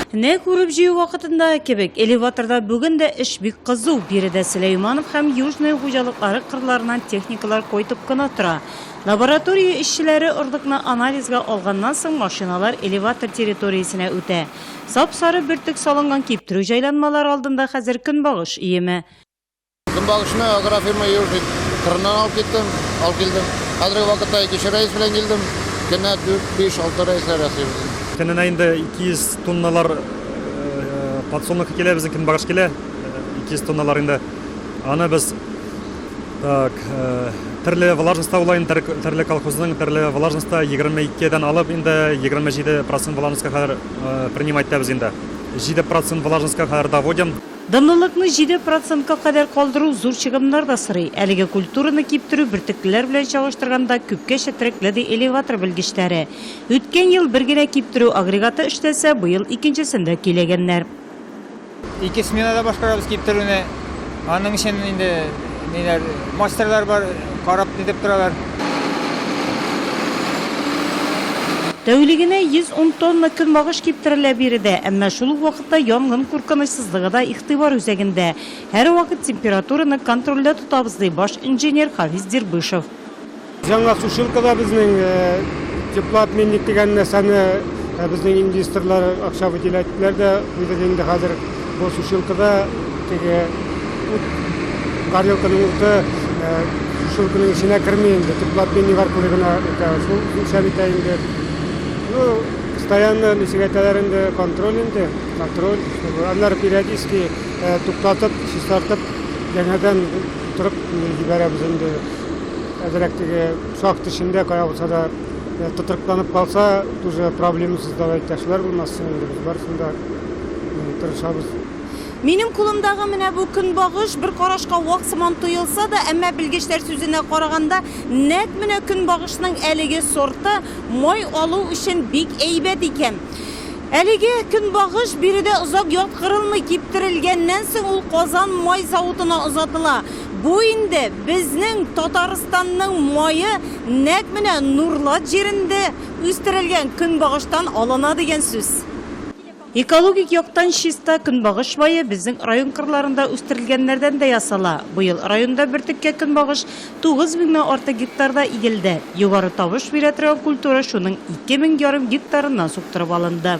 Нәкъ үреп-җыю вакытында кебек, элеваторда бүген дә эш бик кызу. Биредә Сөләйманов һәм Южный хуҗалыклары кырларыннан техникалар кайтып кына тора. Лаборатория эшчеләре орлыкны анализга алганнан соң, машиналар элеватор территориясенә үтә. Сап-сары бөртек салынган киптерү җайланмалары алдында хәзер көнбагыш өеме. Көнбагышны агрофирма Южник кырыннан алып киттем, алып килдем. Хәзерге вакытта икенче рәис белән килдем. Көненә 4, 5, 6 рәисләр ясыйбыз инде. Көненә инде 200 тонналар подсолнух килә, безнең көнбагыш килә. 200 тонналар инде. Аны без так, төрле влажностьта була инде, төрле колхозның төрле влажностьта 22 дән алып инде 27% влажностька кадәр принимать итәбез инде. 7% влажностька кадәр доводим. Данлылыкны җиде процентка кадәр калдыру зур чыгымнар да сорый. Әлеге культураны киптерү бөртеклеләр белән чагыштырганда күпкә четерекле, ди элеватор белгечләре. Үткән ел бер генә киптерү агрегаты эшләсә, быел икенчесен дә көйләгәннәр. Ике сменада башкарабыз киптерүне. Аның өчен инде ниләр, мастерлар бар, карап нитеп торалар. Тәүлегенә 110 тонна көнбагыш киптерелә биредә. Әмма шул ук вакытта вакытта янгын куркынычсызлыгы да игътибар үзәгендә. Һәрвакыт температураны контрольдә тотабыз, ди баш инженер Хафиз Дербышев. Яңа сушилкада безнең теплообменник дигән нәрсәне безнең инвесторлар акча выделяделәр дә куйдык инде хәзер. Бу сушилкада теге ут, горелканың уты сушилканың эченә керми инде, теплообменник аркылы гына үтә. Шул үлчәп итә инде. Ну. Постоянно ничек әйтәләр инде, контроль инде, контроль. Аннары периодически э, туктатып, чистартып, яңадан торып җибәрәбез инде. Әзрәк теге шахт эчендә кая булса да э, тотрыкланып калса, тоже проблемасыз давай ташлар булмасын инде. Без барысын да э, тырышабыз. Минем кулымдагы менә бу көнбагыш бер карашка вак сыман тоелса да, әмма белгечләр сүзенә караганда, нәкъ менә көнбагышның әлеге сорты Май алу өчен бик әйбәт икән. Әлеге көнбагыш биредә озак яткырылмый, киптерелгәннән соң ул Казан май заводына озатыла. Бу инде безнең Татарстанның мае нәкъ менә Нурлат җирендә үстерелгән көнбагыштан алына дигән сүз. Экологик яктан чиста көнбагыш мае безнең район кырларында үстерелгәннәрдән дә ясала. Быел районда бөртеккә көнбагыш тугыз меңнән артык гектарда игелде. Югары табыш бирә торган культура шуның ике мең ярым гектарыннан суктырып алынды.